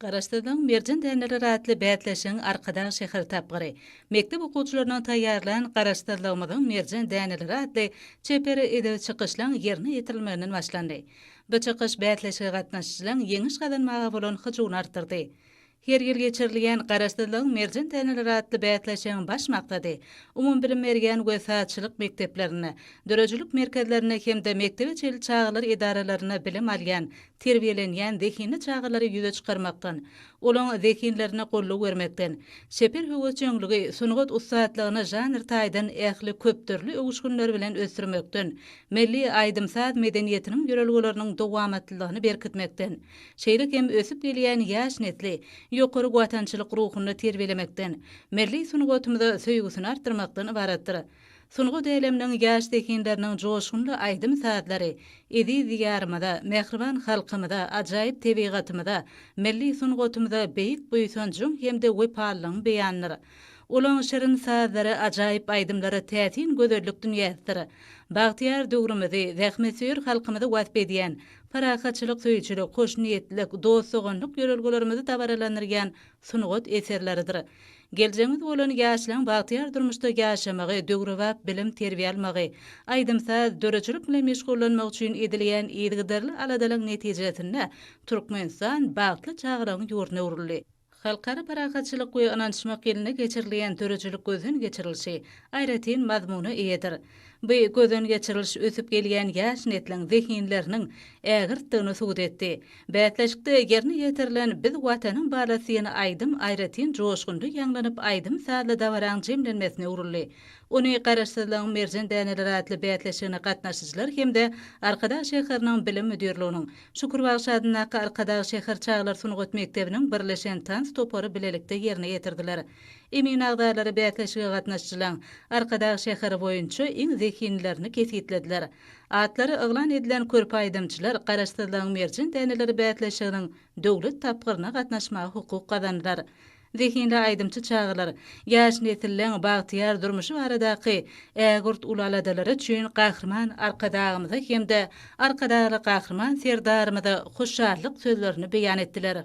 Garaşsyzlygyň merjen däneleri atly bäsleşigiň Arkadag şäher tapgyry, mekdep okuwçylarynyň taýýarlan Garaşsyzlygymyzyň merjen däneleri atly çeper edebi çykyşlaň ýerine ýetirilmeginden başlandy. Bu çykyş bäsleşige gatnaşyjylaň ýeňiş gazanmaga bolan hyjuwyny artdyrdy. Her ýyl geçirilýän Garaşsyzlygyň merjen däneleri atly bäsleşigiň baş maksady umumybilim berýän we sazçylyk mekdeplerinde, döredijilik merkezlerinde hem-de mekdebe çenli çagalar edaralaryna bilim alýan terbiýelenýän zehinli çagalary ýüze çykarmakdan, olaň zehinlerine goldaw bermekden, çeper höwesjeňligi, sungat ussatlygyny žanr taýdan ähli köpdürli öwüşginleri bilen ösdürmekden, milli aýdym-saz medeniýetiniň ýörelgeleriniň dowamatlylygyny berkitmekden, şeýle hem ösüp gelýän ýaş nesli ýokary watançylyk ruhunda terbiýelemekden, milli sungatymyza söýgüsini artdyrmakdan ybaratdyr. Sungat äleminiň ýaş zehinleriniň joşgunly aýdym-sazlary eziz Diýarymyza, mähriban halkymyza, ajaýyp tebigatymyza, milli sungatymyza beýik buýsanjyň hem-de wepalylygyň beýanydyr. Olaň şirin sazlary, ajaýyp aýdymlary täsin gözellik dünýäsidir. Bagtyýar döwrümizi, zähmetsöýer halkymyzy wasp edýän, parahatçylyk söýüjilik, hoşniýetlilik, dost-doganlyk ýörelgelerimizi dabaralandyrýan sungat eserleridir. Geljegiňiz bolan ýaşlaryň bagtyýar durmuşda ýaşamagy, döwrebap bilim-terbiýe almagy, aýdym-saz, döredijilik bilen meşgullanmagy üçin edilýän yzygiderli aladalaryň netijesinde Türkmenistan bagtly çagalaryň ýurduna öwrüldi. Halkara parahatçylyk we ynanyşmak ýylynda geçirilýän döredijilik gözden geçirilişi aýratyn mazmuna eýedir. Bu gözden geçiriliş ösüp gelýän ýaş nesliň zehinleriniň ägirtdigini subut etdi. Bäsleşikde ýerine ýetirilen Biz Watanyň balasyn aýdym aýratyn joşgunly ýaňlanyp aýdym-sazly dabaraň jemlenmesine öwrüldi. Ony Garaşsyzlygyň merjen däneleri atly bäsleşigine gatnaşyjylar hem-de Arkadag şäheriniň Bilim müdirliginiň, Şükür bagşy adyndaky Arkadag şäher çagalar sungat mekdebiniň birleşen tans topary bilelikde ýerine ýetirdiler. Emin agzalary bäsleşige gatnaşyjylaň Arkadag şäheri boýunça iň zehinlilerini kesgitlediler. Atlary yglan edilen körpe aýdymçylar Garaşsyzlygyň merjen däneleri bäsleşiginiň döwlet tapgyryna gatnaşmaga hukuk gazandylar. Zehinli aýdymçy çagalar ýaş nesilleň bagtyýar durmuşy baradaky ägirt uly aladalary üçin Gahryman Arkadagymyza hem-de Arkadagly Gahryman Serdarymyza hoşallyk sözlerini beýan etdiler.